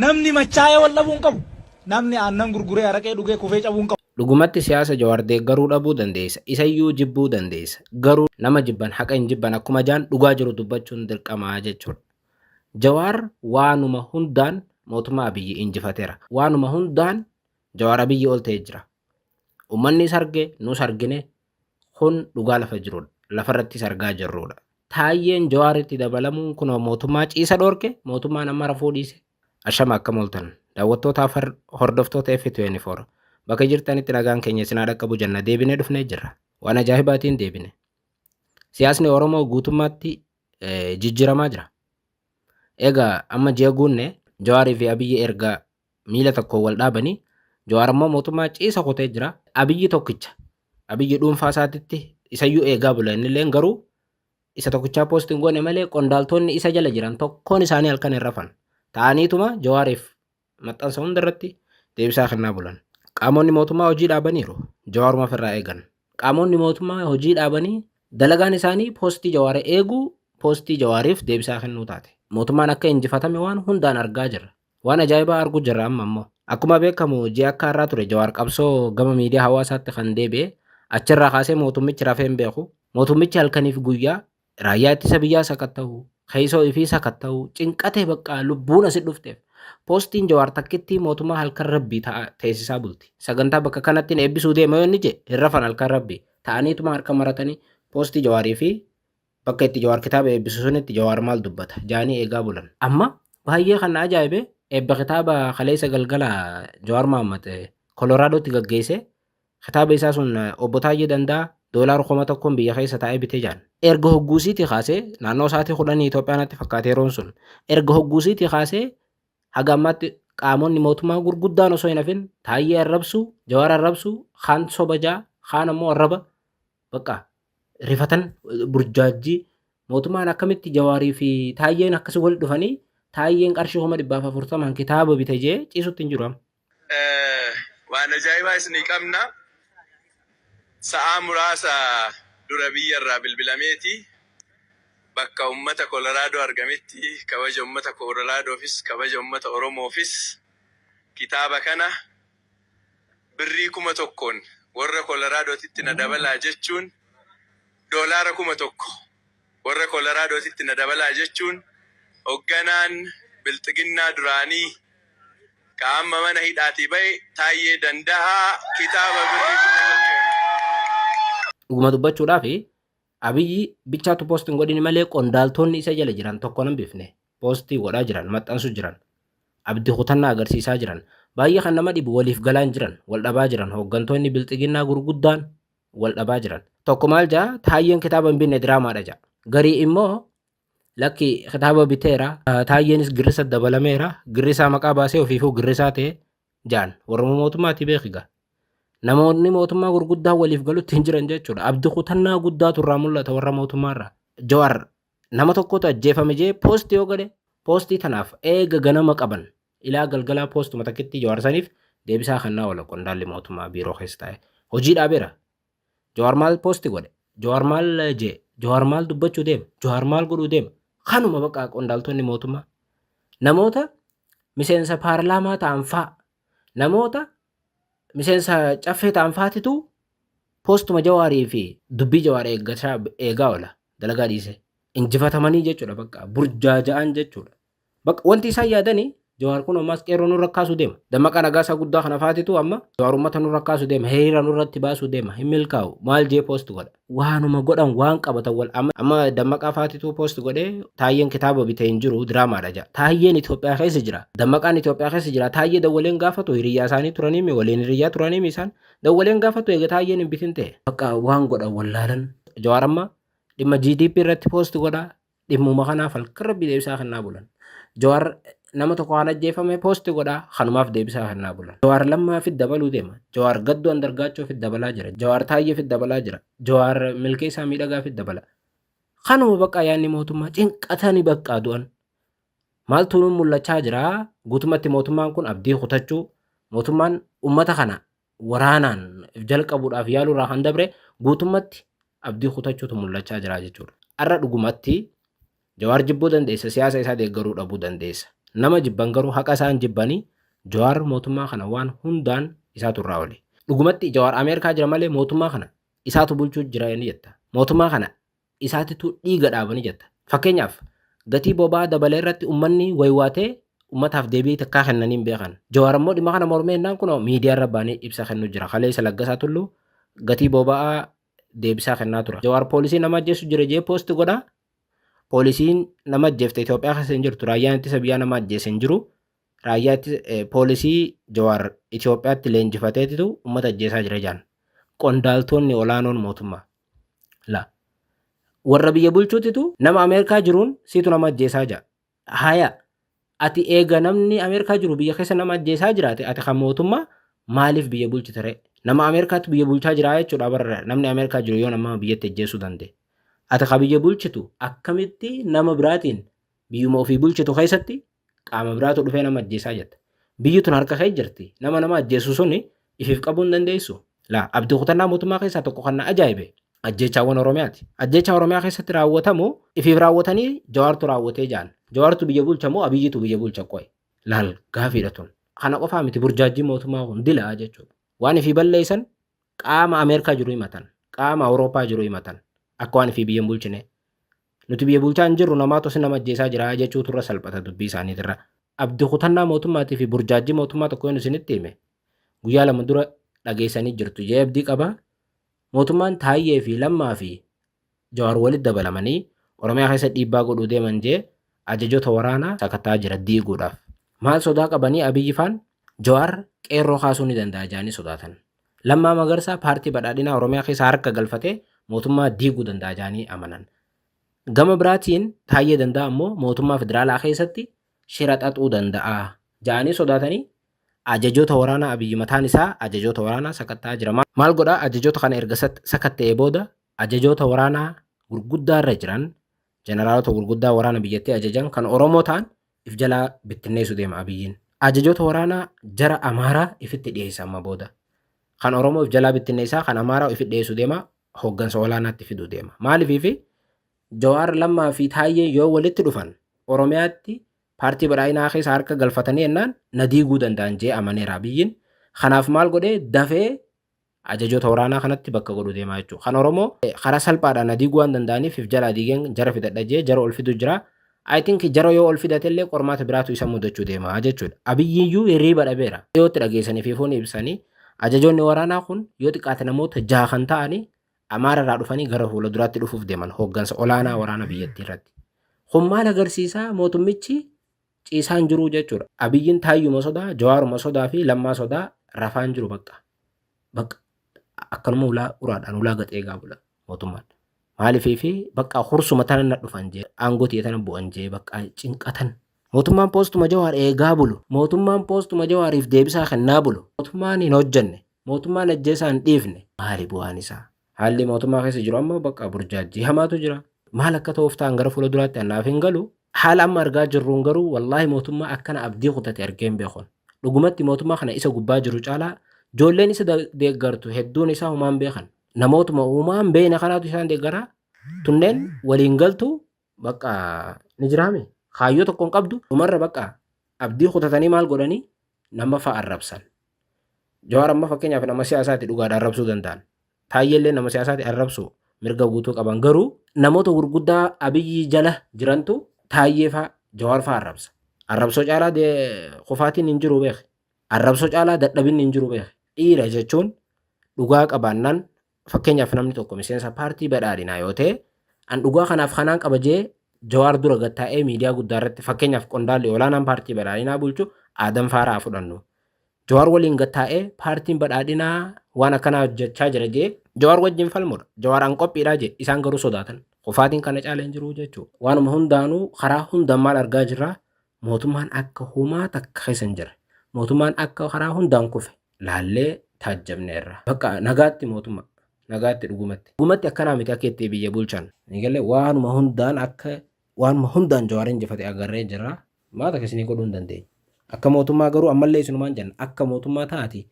Namni machaa'ee wal dhabuu hin qabu. Namni aannan gurguree araqee dhugee kufee cabuu hin qabu. Dhugumatti siyaasa Jawaar deeggaruu dhabuu dandeessa, isayyuu jibbuu dandeessa. Garuu nama jibban haqa hin jibban akkuma jaan dhugaa jiru dubbachuun dirqama jechuudha. Jawaar waanuma hundaan mootummaa Abiyyi injifatera. Waanuma hundaan Jawaar Abiyyi ol ta'ee jira. Ummannis arge, nus argine, Kun dhugaa lafa jirudha. Lafarrattis argaa jirrudha. Taayyeen Jawaaritti dabalamuun kunoo mootummaa ciisa dhoorke, mootummaan amma rafuu dhiise. Ashama akkam ooltan? Daawwattootaaf har- hordoftoota F24 bakka jirtanitti nagaan keenya isin haa dhaqqabu jenna deebinee dhufnee jirra. Waan ajaa'ibaatiin deebine. Siyaasni Oromoo guutummaatti eh, jijjiiramaa jira. Egaa amma ji'a guunne Jawaarii fi Abiyyi erga miila tokkoon wal dhaabanii Jawaar ammoo mootummaa ciisa kutee jira. Abiyyi tokkicha. Abiyyi dhuunfaa isaatitti isayyuu eegaa bula innilleen garuu isa tokkichaa poost hin goone malee qondaaltoonni isa jala jiran tokkoon isaanii halkan hin rafan. Ta'aniituma Jawaariif maxxansa hunda irratti deebisaa kennaa bulan. Qaamonni mootummaa hojii dhaabaniiru. Jawaaruma ofirraa eegan. Qaamonni mootummaa hojii dhaabanii dalagaan isaanii poostii Jawaar eeguu poostii Jawaariif deebisaa kennuu taate. Mootummaan akka injifatame waan hundaan argaa jirra. Waan ajaa'ibaa arguu jirra amma ammoo. Akkuma beekamu ji'a akka har'aa ture Jawaar qabsoo gama miidiyaa hawaasaatti kan deebi'e. Achirraa kaasee mootummichi rafee hin beeku. Mootummichi halkaniif guyyaa raayyaa ittisa biyyaa sakatta'u, keessoo ifii sakatta'u, cinqatee baqqaa lubbuun asi dhufteef. Poostiin Jawaar takkittii mootummaa halkan rabbii ta'a teessisaa bulti. Sagantaa bakka kanattiin eebbisuu deema yoo inni jee hin rafan halkan rabbii. Ta'aniituma harka maratanii poostii Jawaarii fi Bakka itti Jawaar kitaaba eebbisu sunitti Jawaar maal dubbata? jaanii eegaa bulan. Amma baayyee kan na ajaa'ibe eebba kitaaba kaleessa galgala Jawaar Mahaammad Koloraadotti gaggeesse kitaaba isaa sun Obbo Taayyee Dandaa doolaara kuma tokkoon biyya keessa taa'ee bite jaan. Erga hogguusiitii kaasee naannoo sa'aatii kudhanii Itoophiyaa natti fakkaata yeroon sun. Erga hogguusiitii kaasee haga ammaatti qaamonni mootummaa gurguddaan osoo hin hafin Taayyee arrabsu, Jawaar arrabsu, kaan soba jaa, kaan ammoo arraba Bakka rifatan burjaajjii mootummaan akkamitti jawaarii fi taayyeen akkasi wal dhufanii taayyeen qarshii kuma dhibbaaf afurtamaan kitaaba bite jee ciisutti hin jiru amma. Waan ajaa'ibaa isinii qabna. Sa'aa muraasa dura biyya irraa bilbilameeti bakka ummata Kolaraadoo argametti kabaja ummata Kolaraadoofiis kabaja ummata Oromoofis kitaaba kana Birrii kuma tokkoon warra Kolaraadootitti na dabalaa jechuun Doolaara kuma tokko warra Kolaraadootitti na dabalaa jechuun hogganaan Bilxiginnaa duraanii ka amma mana hidhaatii ba'e Taayyee Danda'aa kitaaba birrii kuma tokkoon. Dhuguma dubbachuudhaaf Abiyyi bichaatu post hin godhini malee qondaaltoonni isa jala jiran tokko hin bifne poostii godhaa jiran maxxansu jiran abdi kutannaa agarsiisaa jiran baay'ee kan nama dhibu waliif galaan jiran wal dhabaa jiran hooggantoonni bilxiginnaa gurguddaan wal dhabaa jiran tokko maal ja'a taayyeen kitaaba hin binne diraamaadha ja'a garii immoo Lakki kitaaba biteera. Taayyeenis girrisa dabalameera. Girrisaa maqaa baasee ofiifuu girrisaa ta'e jaan. Warruma mootummaati beekiga. Namoonni mootummaa gurguddaa waliif galutti hin jiran jechuudha. Abdi kutannaa guddaatu irraa mul'ata warra mootummaarraa. Jawaar nama tokkotu ajjeefame jee poosti yoo godhe poostii tanaaf eega ganama qaban ilaa galgalaa poostuma takkitti Jawaar saniif deebisaa kannaa oola qondaalli mootummaa biiroo keessa taa'e. Hojii dhaabeera. Jawaar maal poosti godhe? Jawaar maal jee? Jawaar maal dubbachuu deema? Jawaar maal godhuu deema? Kanuma baqaa qondaaltonni mootummaa. Namoota miseensa paarlaamaa ta'an faa, namoota miseensa caffee ta'an faatitu poostuma jawaarii fi dubbii jawaar eeggachaa eegaa oola dalagaa dhiisee. Injifatamanii jechuudha baqaa burjaaja'an jechuudha. Bakka wanti isaan yaadani Jawaar kun ammaas qeerroo nurra kaasu deema. Dammaqaa Nagaasaa guddaa kana faatitu amma Jawaar ummata nurra kaasu deema. Hiriira nurratti baasu deema. Hin milkaa'u. Maal jee post godha. Waanuma godhan waan qabatan wal amma amma Dammaqaa faatitu post godhe Taayyeen kitaaba bite hin jiru diraamaadha ja'a. Taayyeen Itoophiyaa keessa jira. Dammaqaan Itoophiyaa keessa jira. Taayyee dawwaleen gaafatu hiriyyaa isaanii turaniimi waliin hiriyyaa turaaniimi isaan. Dawwaleen gaafatu eega Taayyeen hin bitin ta'e. Bakka waan godhan wallaalan. Jawaar amma dhimma GDP irratti post godha. Dhimmuma kanaaf halkan rabbii deebisaa kennaa bulan. Jawaar nama tokko waan ajjeefame poosti godhaa kanumaaf deebisaa kennaa bulan. Jawaar lammaa fi dabaluu deema. Jawaar gaddoo andargaachoo fi dabalaa jira. Jawaar taayyee fi dabalaa jira. Jawaar milkeessaa miidhagaa fi dabala. Kanuma baqqaa yaadni mootummaa cinqatani baqqaa du'an. Maaltu nuun mul'achaa jira? Guutumatti mootummaan kun abdii kutachuu mootummaan uummata kana waraanaan jalqabuudhaaf yaaluu irraa kan dabre guutummatti abdii kutachuutu mul'achaa jira jechuudha. Har'a dhugumatti Jawaar jibbuu dandeessa siyaasa isaa deeggaruu dhabuu dandeessa. Nama jibban garuu haqa isaan jibbanii Jawaar mootummaa kana waan hundaan isaatu irraa oli. Dhugumatti Jawaar Ameerikaa jira malee mootummaa kana isaatu bulchuu jira ni jetta. Mootummaa kana isaatitu dhiiga dhaabani jetta. Fakkeenyaaf gatii boba'aa dabalee irratti ummanni waywaatee ummataaf deebii takkaa kennanii hin beekan. Jawaar ammoo dhimma kana mormee innaan kunoo miidiyaa irra baanee ibsa kennu jira. Kaleessa Laggasaa Tulluu gatii boba'aa deebisaa kennaa tura. Jawaar poolisii nama ajjeesu jira jee poosti godha. Poolisiin nama ajjeefte Itoophiyaa keessa hin jirtu. Raayyaan ittisa biyyaa nama ajjeese hin jiru. Raayyaa ittisa poolisii Jawaar Itoophiyaatti leenjifateetitu ummata ajjeesaa jira jaan. Qondaaltoonni olaanoon mootummaa. La. Warra biyya bulchuutitu nama Ameerikaa jiruun siitu nama ajjeesaa ja'a. Haya. Ati eega namni Ameerikaa jiru biyya keessa nama ajjeesaa jiraate ati kan mootummaa maaliif biyya bulchita ree? Nama Ameerikaatu biyya bulchaa jiraa jechuudha bara namni Ameerikaa jiru yoo nama biyyatti ajjeesuu danda'e. Ati kan biyya bulchitu akkamitti nama biraatiin biyyuma ofii bulchitu keessatti qaama biraatu dhufee nama ajjeesaa jetta. Biyyi tun harka kee jirti. Nama nama ajjeesu suni ifiif qabuu hin dandeessu. Laa abdii kutannaa mootummaa keessaa tokko kan na ajaa'ibe ajjeechaawwan Oromiyaati. Ajjeechaa Oromiyaa keessatti raawwatamu ifiif raawwatanii Jawaartu raawwatee ja'an. Jawaartu biyya bulcha moo Abiyyitu biyya bulcha qoy? Laal gaafiidha tun. Kana qofaa miti burjaajjiin mootummaa kun dila jechuudha. Waan ifii balleessan Qaama Ameerikaa jiru himatan. Qaama Awurooppaa jiru himatan. Akka waan fi biyya hin bulchine. Nuti biyya bulchaa hin jirru namaatu si nama ajjeesaa jira jechuutu irra salphata dubbii isaaniitirra. Abdi kutannaa mootummaatii fi burjaajjii mootummaa tokko yoon isinitti hime guyyaa lama dura dhageessanii jirtu. J. Abdii qaba. Mootummaan Taayyee fi Lammaa fi Jawaar walitti dabalamanii Oromiyaa keessa dhiibbaa godhuu deeman J Ajajoota waraanaa sakatta'aa jira diiguudhaaf. Maal sodaa qabanii Abiyyi faan Jawaar qeerroo kaasuu ni danda'a jedhanii sodaatan. Lammaa Magarsaa paartii badhaadhinaa Oromiyaa keessa harka galfatee mootummaa diiguu danda'a jedhanii amanan. Gama biraatiin Taayyee Danda'aa ammoo mootummaa federaalaa keessatti shira xaxuu danda'a jedhanii sodaatanii Ajajoota waraanaa Abiyyi mataan isaa Ajajoota waraanaa sakatta'aa jira. Maal godhaa Ajajoota kana erga sakatta'ee booda Ajajoota waraanaa gurguddaa irra jiran, jeneraalota gurguddaa waraana biyyattii ajajan kan Oromoo ta'an if jalaa bittinneessu deema Abiyyiin. Ajajoota waraanaa jara Amaaraa ifitti dhiyeessa amma booda. Kan Oromoo if jalaa bittinneessaa kan Amaaraa ifitti dhiyeessu deema hoggansa olaanaatti fidu deema. Maalifiifi Jawaar Lammaa fi Taayyeen yoo walitti dhufan Oromiyaatti paartii badhaadhinaa keessa harka galfatanii ennaan na diiguu danda'an jee amaneera Abiyyiin. Kanaaf maal godhee dafee Ajajoota waraanaa kanatti bakka godhu deemaa jechuudha. Kan Oromoo karaa salphaadhaan na diiguu waan danda'aniif if jalaa diigeen jara fidadha jee jara ol fidu jira. I think jara yoo ol fidate illee qormaata biraatu isa mudachuu deema jechuudha. Abiyyiyyuu hirriiba dhabeera. Dhiyootti dhageessanii fi fuuni ibsanii ajajoonni waraanaa kun yoo xiqqaate namoota jaha kan ta'anii Amaara irraa dhufanii gara fuula duraatti dhufuuf deeman hooggansa olaanaa waraana biyyattii irratti. Kun maal agarsiisaa mootummichi ciisaa hin jiruu jechuudha. Abiyyiin taayyuma sodaa, jawaaruma sodaa fi lammaa sodaa rafaa hin jiru bakka. Bakka akkanuma ulaa uraadhaan ulaa gad eegaa bula mootummaan. Maaliifii fi bakka hursuma tana na dhufan jee aangoo tiyya tana bu'an jee bakka cinqatan. Mootummaan poostuma jawaar eegaa bulu. Mootummaan poostuma jawaariif deebisaa kennaa bulu. Mootummaan hin hojjanne. Mootummaan ajjeesaa hin dhiifne. Maali bu'aan isaa? Haalli mootummaa keessa jiru amma bakka burjaajjii hamaatu jira. Maal akka ta'uuf ta'an gara fuula duraatti annaaf hin galu. Haala amma argaa jirruun garuu wallaahi mootummaa akkana abdii kutate argee hin beekun. Dhugumatti mootummaa kana isa gubbaa jiru caalaa joolleen isa deeggartu hedduun isaa humaan beekan. Namootuma uumaan beeyne kanaatu isaan deeggaraa. Tunneen waliin galtuu bakka ni jiraame kaayyoo tokkoon qabdu dhumarra bakka abdii kutatanii maal godhanii nama fa'a arrabsan. Jawaar amma fakkeenyaaf nama siyaasaati dhugaadha arrabsuu danda'an. Taayyeellee nama siyaasaati arrabsuu mirga guutuu qaban garuu namoota gurguddaa abiyyi jala jirantu taayyee fa'a jawaar fa'a arrabsa. Arrabsoo caalaa kufaatiin hin jiru beeki. Arrabsoo caalaa dadhabinni hin jiru beeki. Dhiira jechuun dhugaa qabaannaan Fakkeenyaaf namni tokko miseensa paartii badhaadhinaa yoo ta'e an dhugaa kanaaf kanaan qaba jee jawaar dura gad taa'ee miidiyaa guddaa irratti fakkeenyaaf qondaalli olaanaan paartii badhaadhinaa bulchu Aadam Faaraa fudhannu. Jawaar waliin gad taa'ee paartiin badhaadhinaa waan akkanaa hojjechaa jira jee jawaar wajjin falmudha. Jawaar an qophiidhaa jee isaan garuu sodaatan. Kufaatiin kana caala hin jiru jechuu. Waanuma hundaanuu karaa hundaan maal argaa jirra Mootummaan akka humaa takka keessa hin jirre. Mootummaan akka karaa hundaan kufe laallee taajjabneerra. Bakka nagaatti mootummaa. Nagaatti dhugumatti. Dhugumatti akkanaa miti akka itti biyya bulchan. Eegalee waanuma hundaan akka waanuma hundaan Jawaar injifate agarree jirra. Humaa takka isinii godhuu hin dandeenyu. Akka mootummaa garuu ammallee isinumaan jenna akka mootummaa ta'aatii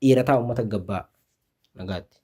dhiira ta'aa uummata gabbaa. Nagaatti.